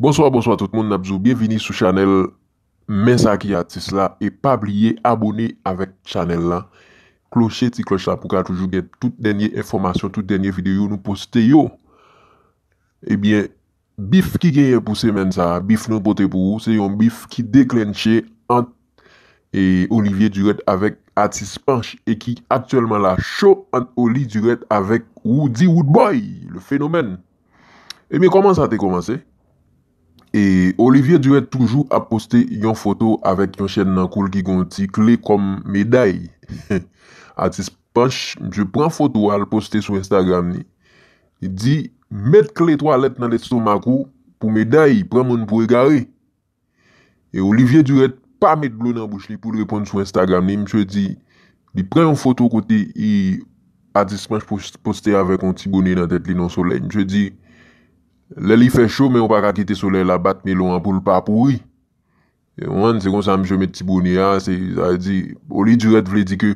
Bonswa bonswa tout moun nap di w byenvini sou chanèl men sa ki atis la e pa bliye abone avèk chanèl la kloche ti klòch la pou ka toujou gen tout dènye enfòmasyon tout dènye videyo nou poste yo ebyen Bif ki genyen pou semèn sa a, bif nou pote pou ou se yon bif ki deklentche ant Olivier Durette avèk Atis Panch e ki aktyèlman la cho ant Oli Durette avèk Roody Roodboy le phénomène. Ebyen kòman sa te kòmanse? E Olivier Durette toujou ap poste yon foto avèk yon chèn nan kou l ki gen yon ti kle kòm meday. Atis Panch misye pran foto al poste sou Instagram li, li di met kle twalèt nan lestomak ou pou meday, pran moun pou egare. E Olivier Durette pa met dlo nan bouch li poul reponn sou Instagram li, misye di li pran yon foto kote atis Panch poste avèk yon ti bone nan tèt li nan solèy. Misye di lè li fè cho men ou paka kite solèy la bat melon an poul pa pouri. One se konsa misye met ti bone a se sa vle di o li dirèt vle di ke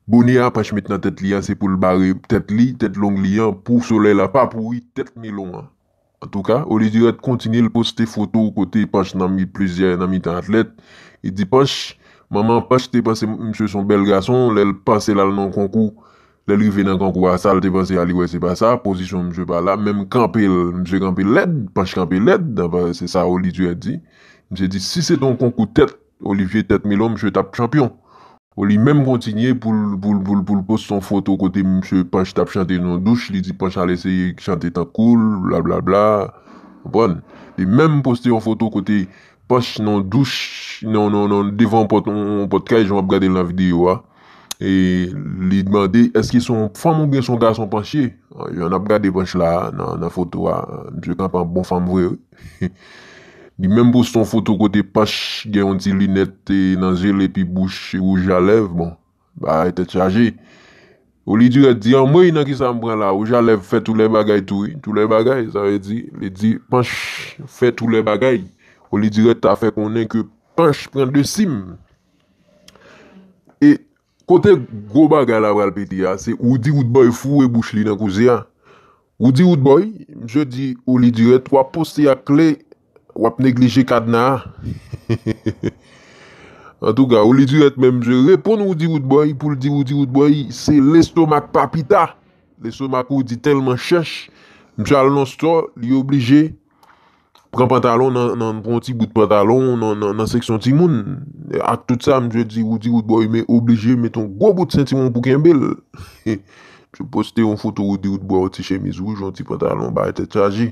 bone a panch met nan tèt li a se poul bare tèt li tèt long li an pou solèy la pa pouri tèt milon an antouka o li dirèt kontinye l poste foto kote panch nan mi plizyè nan mitan atlèt li di panch manman panch te panse misye son bèl gason lèl panse lal nan yon konkou Lèl rive nan kangou a sal te panse a li wè se pa sa, pozisyon misye pa la, menm kanpel misye kanpe lèd, panch kanpe lèd, se sa Olivier di, misye di si se te yon konkou tèt Olivier tèt Milo misye tap chanpyon, Oli menm kontinye poul poste yon foto kote misye panch tap chante nou douch li di panch al eseye chante tankoul bla bla bla, konprann, li menm poste yon foto kote Panch nan douch, nan nan nan devan yon pòt yon pòt kay jan wap gadel nan video a e li mande eske son yon fanm oubyen son gason panch ye jan nap gade panch la nan nan foto a misye kanpe an bon fanm vre wi li menm poste yon foto kote panch gen yon ti linèt nan zyel epi bouch rouj a lèv bon. Bagay tèt chaje. Ou li dirèk di anmweyy nan kisa m pran la wouj a lèv fè tou lè bagay tou wi tou lè bagay sa vle di li di panch fè tou lè bagay ou li dirèk ta fè konnen ke panch pran de sim e kote gwo bagay la pral pete a se ou di ou t bòy foure bouch li nan kouze a ou di ou t bòy misye di ou li dirèk wap poste ak kle. Wap neglije kadna a Antouka ou li dirèt men msye reponn Roody Roodboy poul di Roody Roodboy se lestomak papita Lestomak Roody tèlman chèch msye al nan stò li oblije pran pantalon nan pran yon ti bout pantalon nan seksyon timoun ak tout sa msye di Roody Roodboy men oblije met yon gwo bout sentiwon pou kenbel Msye poste yon foto Roody Roodboy yon ti chemiz wouj yon ti pantalon bay tèt chaje.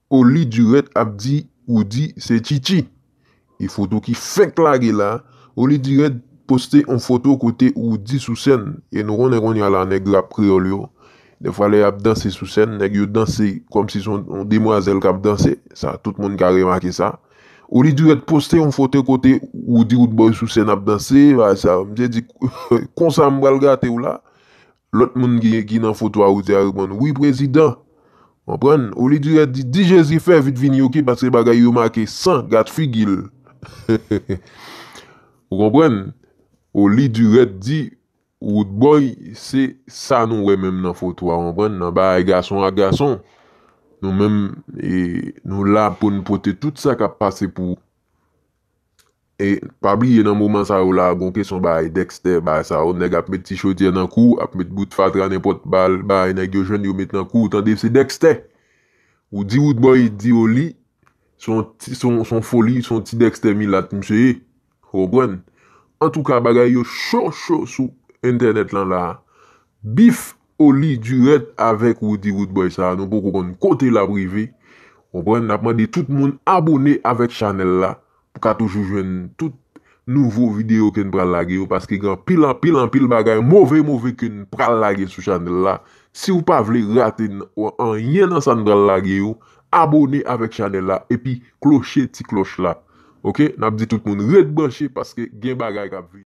Oli Durette ap di Roody se Chichi. E foto ki fenk lage la, Oli Durette poste on foto kote Roody sou sèn e nou konnen kounye a la nèg rap kreyòl yo, dèfwa lè y'ap danse sou sèn, nèg yo danse kòm si son on demwazèl k'ap danse, sa tout moun ka remake sa. Oli Durette poste on foto kote Roody Roodboy sou sèn ap danse, sa misye di konsa m'pral gate'w la, Lòt moun ki nan foto a ou te a reponn, Wi prezidan! Konprann? Oli Durèt di, Di Jezi fè vit vini oke paske bagay yo make san gad figi l. Ou konprann? Oli Durèt di, Woodboy se sa nou wè menm nan foto a, konprann, nan bagay gason ak gason. Nou menm nou la pou n pote tout sa k ap pase pou. E pa bliye nan moman sa yo la gon kesyon bay Dexter bay sa yo nèg ap met ti chodyè nan kouw ap met bout fatra nenpòt bal bay nèg yo jwenn yo met nan kouw tande se Dexter ou di roodboy di yo li son foli son ti Dexter milat misye ye ou konprann antouka bagay yo cho cho sou entènèt lan la bif Oli Durant avèk Roody Roodboy sa nou poko konn kote lap rive ou konprann nap mande tout moun abone avèk chanèl la pou ka toujou jwenn tout nouvo video ken pral lage yo paske gen anpil anpil anpil bagay move move ken pral lage sou chanèl la siw pa vle rate anyen nan san pral lage yo abone avèk chanèl la epi kloche ti klòch la ok nap di tout moun ret branche paske gen bagay kap vini.